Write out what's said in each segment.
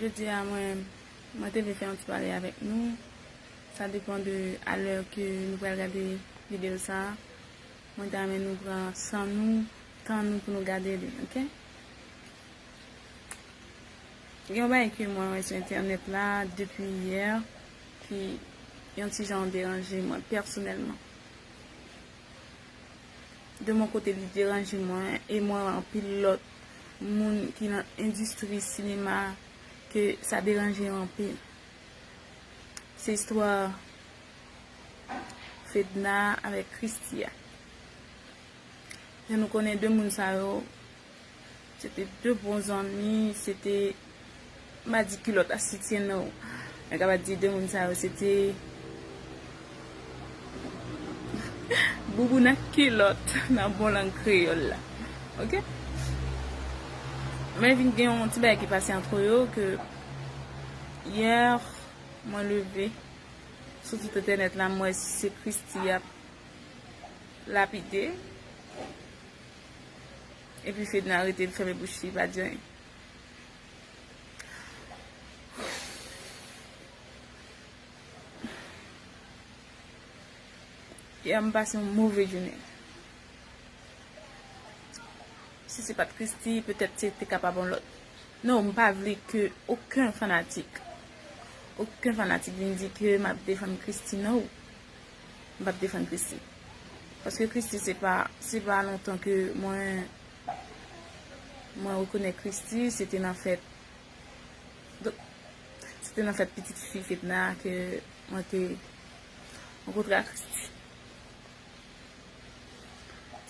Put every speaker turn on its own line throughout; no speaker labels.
Jodi a mwen mwen te vle fè yon ti pale avèk nou. Sa depan de alè ke nou pral gade videyo sa. Mwen ta men nou pran san nou, tan nou pou nou gade li, ok? Yon bay ke mwen wè sou entènèt la depi yè. ki yon ti jan deranje mwen pèsonèlman. De mon kote li deranje mwen e mwen wè anpil lòt moun ki nan endistri sinema ke sa deranje yo anpil. Se istwa Fedna avèk Christie a. Jan nou konnen 2 moun sa yo Se te 2 bon zanmi, se te m pa di kilòt a soutyen no. Mwen kapab di 2 moun sa yo se te bouboun ak kilòt nan bon lang kreyòl la. Ok. Men vin gen yon ti bagay ki pase antre yo ke yè mwen leve sou tout entènèt la m wè se Christie y ap lapide. Epi fedna rete li fèmen bouch li pa di anyen. Yè m pase yon move jounen. Si se pat Christy petèt se te kapab yon lòt. Non m pa vle ke oken fanatik. Oken fanatik vin di ke m ap defann Christy no. m pap defann Christie paske Christie se pa se pa lontan ke mwen mwen rekonèt Christie se te nan fèt donk se te nan fèt pitit fi Fedna ke mwen te rankontre ak Christie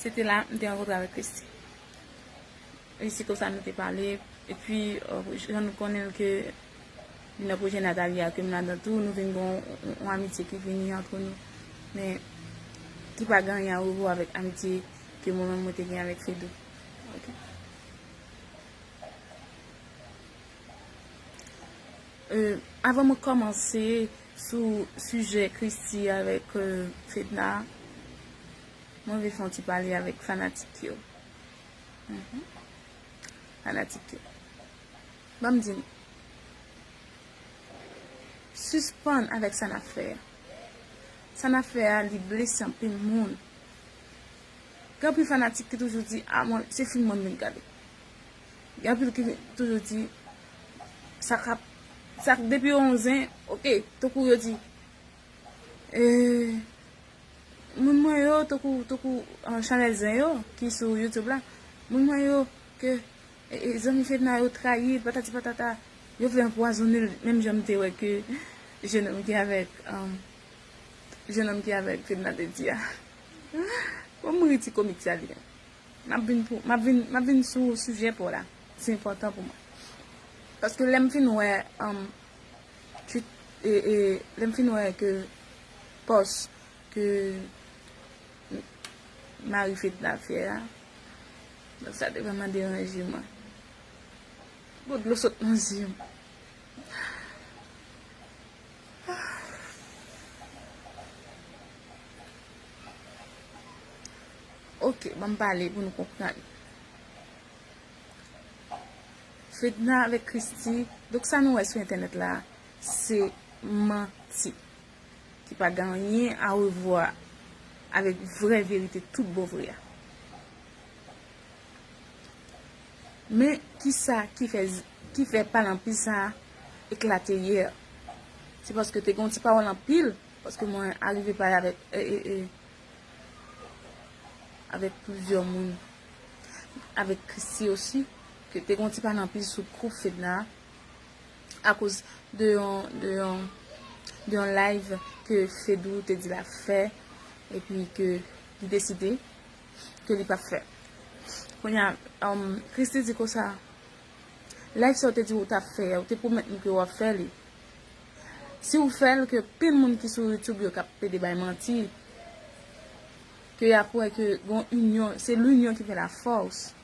se te la m te rankontre avèk Christie E se konsa nou te pale. E pi jan nou konnen l ke li nan pwojè Nathalie a, ke m ladan tou, nou vin gen yon amitye ki vini antre nou. Men, ki pa gen anyen arevo avèk amitye ke mwen menm mwen te gen avèk Fedou. Ok. Avan mwen kòmanse sou sijè Christy avèk Fedna, mwen vle fè yon ti pale avèk fanatik yo. Fanatikte. Banm di nou. Sispann avèk sa nap fè a. Sa nap fè a li blese anpil moun. Gen anpil fanatik ki toujou di a mwen se film mwen vin gade. Gen anpil ki toujou di sa kap sa depi yon zen ok tankou yo di. Moun mwen yo tankou tankou chanèl zen yo ki sou youtube la Moun mwen yo ke zanmi fedna yo trayi l patati patata Yo vle anpwazonnen l menm jan m te wè ke jenòm ki avèk jenòm ki avèk fedna te di a Fò m ri ti komik sa li menm M ap vin pou m ap vin m ap vin sou sijè pa w la Se enpòtan pou mwen Paske lè m fin wè Lè m fin wè ke pòs ke mari Fed la fè a, donk sa te vrèman deranje mwen. Bon dlo sot nan zye m. Ok, banm pale pou nou konprann. Fedna avèk Christy donk sa nou wè sou entènèt la se manti ki pa gen anyen arevwa avèk vrè verite tout bon vre a. Men kisa ki fè pale anpil sa eklate yè se paske te gen yon ti pawòl anpil paske mwen arive pale avèk avèk plizyè moun avèk Christy osi. ke te gon ti pa nan pil sou kou Fedna a koz de yon de yon de yon live ke Fedou te di la fè epi ke li deside ke li pap fè kounya Christie di konsa live sa ou te di ou tap fè ou te pwomèt nou ke wap fè li si ou fèl ke pil moun ki sou YouTube yo kap pede bay manti ke yap wè ke gon union se l'union ki fè la force.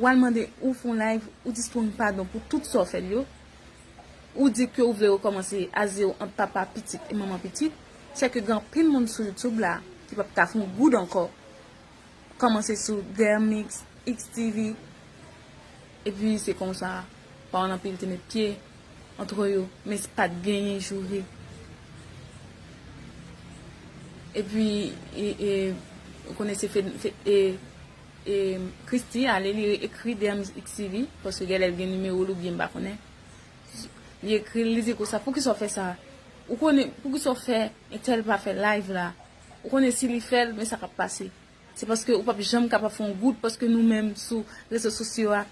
Wal mande ou fon live ou di strong padon pou tout sa w fè l yo ou di ke ou vle rekòmanse a zero ant papa pitit e manman pitit sè ke gen anpil moun sou youtube la ki pap ka fon goud ankò kòmanse sou Dermix, XTV epi se konsa paran anpil te met pye antre yo men se pat genyen joure epi ou konnen se Christie ale li re ekri dmz xcvi paske gèlè l gen nimewo l oubyen m pa konnen li ekri l li di konsa poukisa w fè sa ou konnen poukisa w fè entèl pa fè live la ou konnen si li fè l men sa k ap pase se paske ou p ap janm kapab fè yon goud paske nou menm sou rezo sosyo a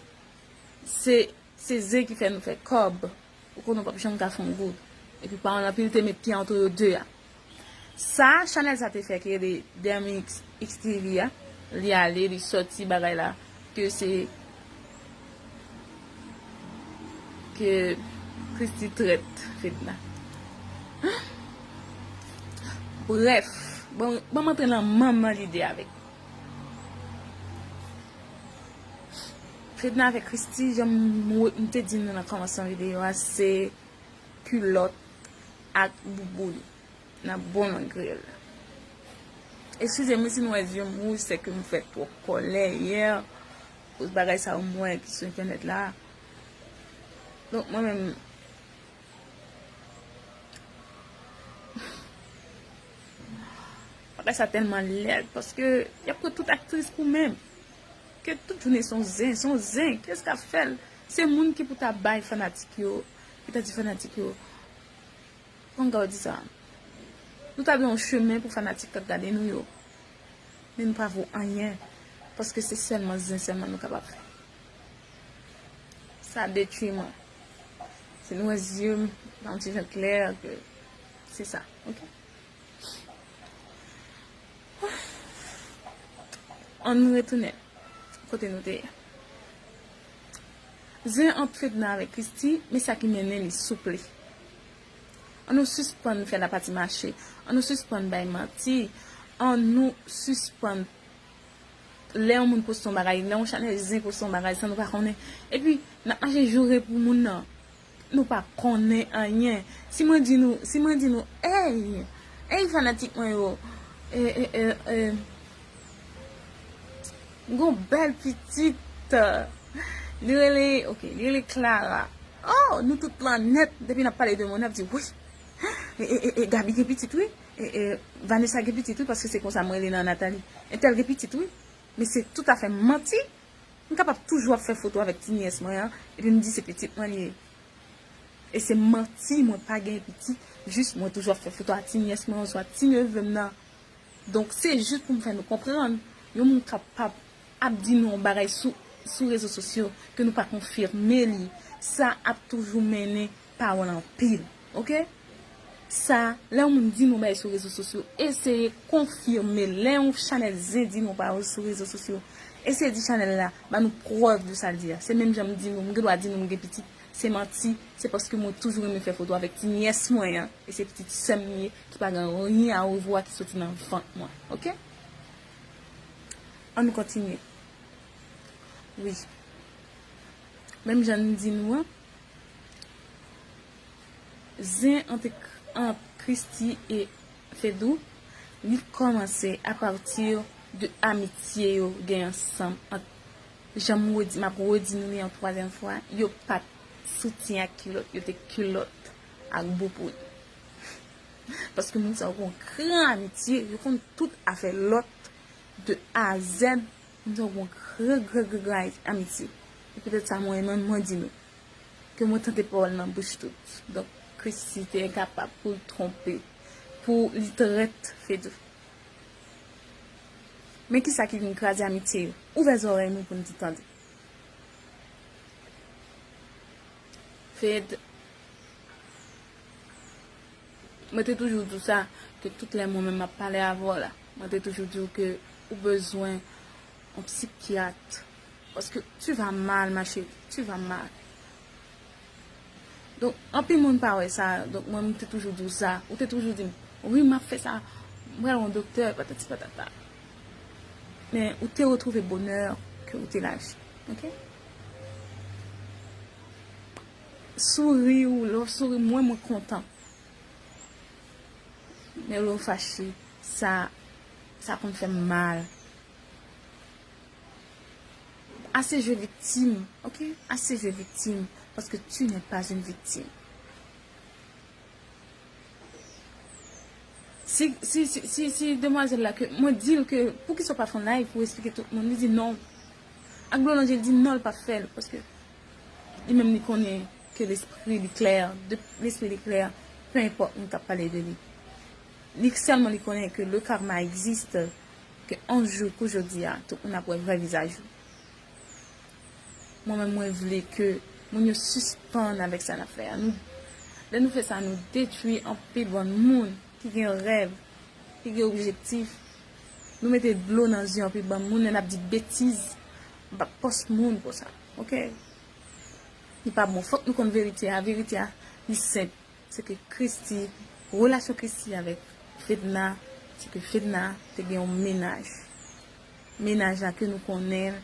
se se zen ki fè nou fè kòb ou konnen w p ap janm ka fè yon goud epi paran l anpil te met pye antre yo 2 a. Sa chanèl sa te fè ki rele Dermix XTV a li ale li sòti bagay la ke se ke Christie trèt Fedna brèf bon banm antre nan manman lide avèk Fedna avèk Christie janm te di nou nan kòmansman videyo a se kulòt. ak bouboun nan bon mwen griyèl la eskize m si nou wè zye m wouj se ke m fè twòp kòlè yè koz bagay sa yo m wè ki sou entènèt la donk mwen menm bagay sa tèlman lèd paske y ap pran tout aktris pou menm ke tout jounen son zen son zen kiyès k ap fè l se moun ki pou ta bay fanatik yo ki ta di fanatik yo, kòman m kapab di sa, nou ta gen yon chemen pou fanatik k ap gade nou yo, men nou pa vo anyen, paske se sèlman zen sèlman nou kapab fè. Sa detwi mwen. Si nou wè zye m pa yon ti jan klè, ke se sa. Ok. An nou retounen kote nou te ye. Zen ant fedna avèk christi men sa ki mennen li souple an nou sispann fè la pati mache an nou sispann bay manti an nou sispann lè yon moun poste yon bagay lè yon chanèl zen poste yon bagay san nou pa konnen epi nap mache joure pou moun nan. Nou pa konnen anyen. Si mwen di nou, si mwen di nou, Ey! Ey fanatik mwen yo! E, e, e, e, m gen yon bèl pitit! Li rele, ok, li rele Clara. O! Nou tout lan nèt, depi n ap pale de moun, n ap di, Wi! E, e, e, e, Gaby gen pitit wi! E, e, Vanessa gen pitit wi, paske se konsa m rele nan Nathalie. Entèl gen pitit wi! Men se toutafè manti! M kapab toujou ap fè foto avèk ti nyès mwen an epi m di se pitit mwen li ye. E se manti mwen pa gen pitit, jis mwen toujou ap fè foto a ti nyès mwen oswa ti neve m nan. Donk se jis pou m fè nou konprann, yon moun kapab ap di nou yon bagay sou rezo sosyo ke nou pa konfime li, sa ap toujou mennen pawòl anpil ok sa lè yon moun di nou bagay sou rezo sosyo eseye konfime l lè yon chanèl zen di nou pawòl sou rezo sosyo eseye di chanèl la ba nou prèv de sa l di a se menm jan m di nou m gen dwa di nou m gen pitit se manti se paske mwen toujou renmen fè foto avèk ti nyès mwen an e se pitit sè m li ye ki pa gen anyen a revwa ki soti nan vant mwen ok an nou kontinye wi menm jan n di nou an. Zen ant Christie e Fedou li kòmanse a pati de amitye yo gen ansanm ant janm redi map redi nou li yon twazyèm fwa yo pat soutyen ak kilòt yo te kilòt ak bouboun paske moun sa yo gon gran amitye yo konn tout afè lòt de a a zèd. Mwen se yon gwo gwo gwo gwo amitye. Se petèt sa mwen menm mwen di nou. Ke mwen tande pawòl nan bouch tout. Donk Christie te enkapab pou l twonpe. Pou li trèt Fedou. Men kisa ki vin kraze amitye yo. Ouvè zòrèy nou pou n di tande. Fed. Mwen te toujou di w sa, ke tout lè mwen menm m ap pale avè w la, mwen te toujou di w ke ou bezwen yon psikyat, paske tu va mal ma chérie, tu va mal. Donk, anpil moun pa wè sa, donk mwen m te toujou di w sa, ou te toujou di m, wi m ap fè sa, m pral wè yon doktè, patati patata. Men, ou te retwouve bonè ke ou te laji, ok? Souri ou lè ou souri mwen mwen kontan men lè ou fache sa sa konn fèm mal ase jwe viktim ok ase jwe viktim paske tu nè pas yn viktim si si si si demwazèl la ke mwen dil ke poukisa ou pa fè yon live pou esplike tout moun li di non ak dlo nan je li di non li pap fèl paske Li menm li konnen ke lespri li klè, depi lespri li klè, pe enpòt moun kap pale de li. Li sèlman li konnen ke le karma existe, ke on jou kou jodi a, tout moun ap wè vrè vizaj ou. Mwen menm mwen vle ke moun yo sispann avèk sa nap fè a. Nou, lè nou fè sa nou detwi anpil bann moun ki gen rèv, ki gen objektif. Nou mete dlo nan zye anpil bann moun lè nap di betiz M pap pòs moun pou sa. Ok. Li pa bon. Fòk nou konn verite a. Verite a li senp. Se ke Christy, relasyon Christy avèk Fedna, se ke Fedna te gen yon menaj. Menaj la ke nou konnen,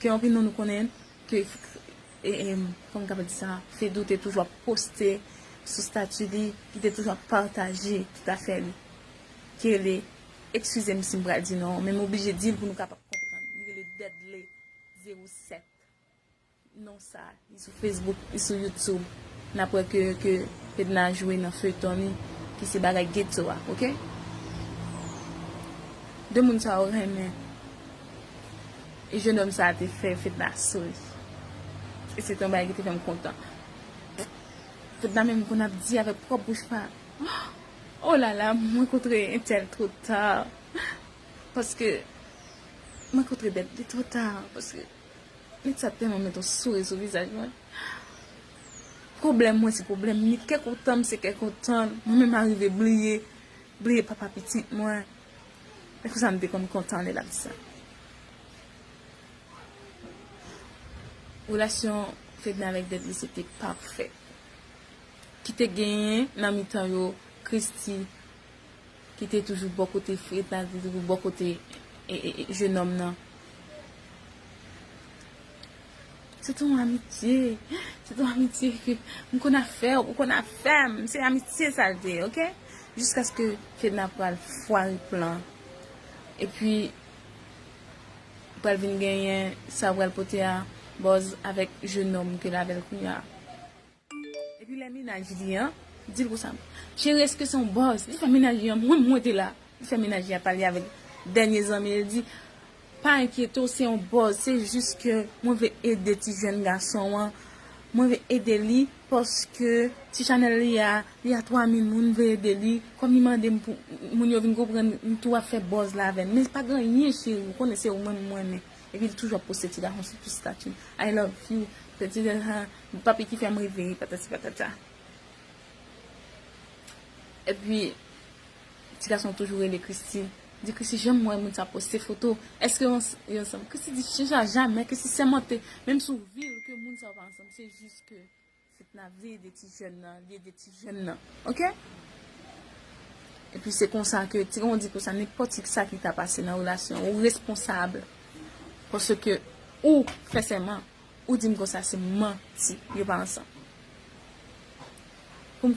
ke anpil nan nou konnen, ke, e, e, kòman m kapab di sa, Fedou te toujou ap poste sou stati li, li te toujou ap pataje tout afè li. Kele Excuse m si m pral di non an, men m oblije di l pou nou kapab konprann. Li rele Dudley 07. Non sa, li sou Facebook, li sou YouTube. N ap wè ke ke Fedna jwe nan feyton li ki se Bagay Getho a, ok? De moun sa yo renmen. E jenòm sa a te fè Fedna souri. E se te yon bagay ki te fè m kontan. Fedna menm konn ap di avèk pwòp bouch pa l. Oh lala mwen kontre entèl two ta paske mwen kontre bèt li two ta paske nèg sa tèlman met yon souri sou vizaj mwen pwoblèm mwen se pwoblèm li kè kontan m se kè kontan l mwen menm arive bliye bliye papa pitit mwen e konsa m te konn kontan lè l ap di sa relasyon fedna avèk bèt li se te pafè. ki te genyen nan mitan yo Christy ki te toujou bò kote Freda, ki te toujou bò kote jenòm nan. Se te yon amitye, se te yon amitye ke m konn ap fè ou, ou konn ap fè m, se amitye sa l te, ok? Jiskaske Fedna pral fware plan, epi pral vin genyen sa pral pote a bòz avèk jenòm ke l avè l kounya. Epi lè mennaj li an di l konsa, Cheri èske se yon bòz? Li fè mennaj li an, Mwen mwen te la. Li fè mennaj li an pale avèk dènye zanmi l, li di, Pa enkyete w, se yon bòz, se jis ke mwen vle ede ti jèn gason an, mwen vle ede li paske ti chanèl li a, li a 3000 moun, m vle ede li, kòm li mande m pou moun yo vin konprann, m tou ap fè bòz la avè l. Men pa gen anyen cheri, ou konnen se ou menm m renmen. Epi li toujou ap poste ti gason sou tout stati l, I love you, petit de la, Papi ki fèm rive ri patati patata. Epi ti gason toujou rele Christie di Christie janm wè moun sa poste foto eske yo ansanm Christie di chanja jamè Christie sèmante menm si w vil ke moun sa yo pa ansanm se jis ke Fedna vle ede ti jèn nan li ede ti jèn nan ok epi se konsa ke ti gason di konsa nenpòt sa ki ta pase nan relasyon ou responsab paske ou fè sèman. Ou dim konsa se manti yo pa ansanm. Pou m.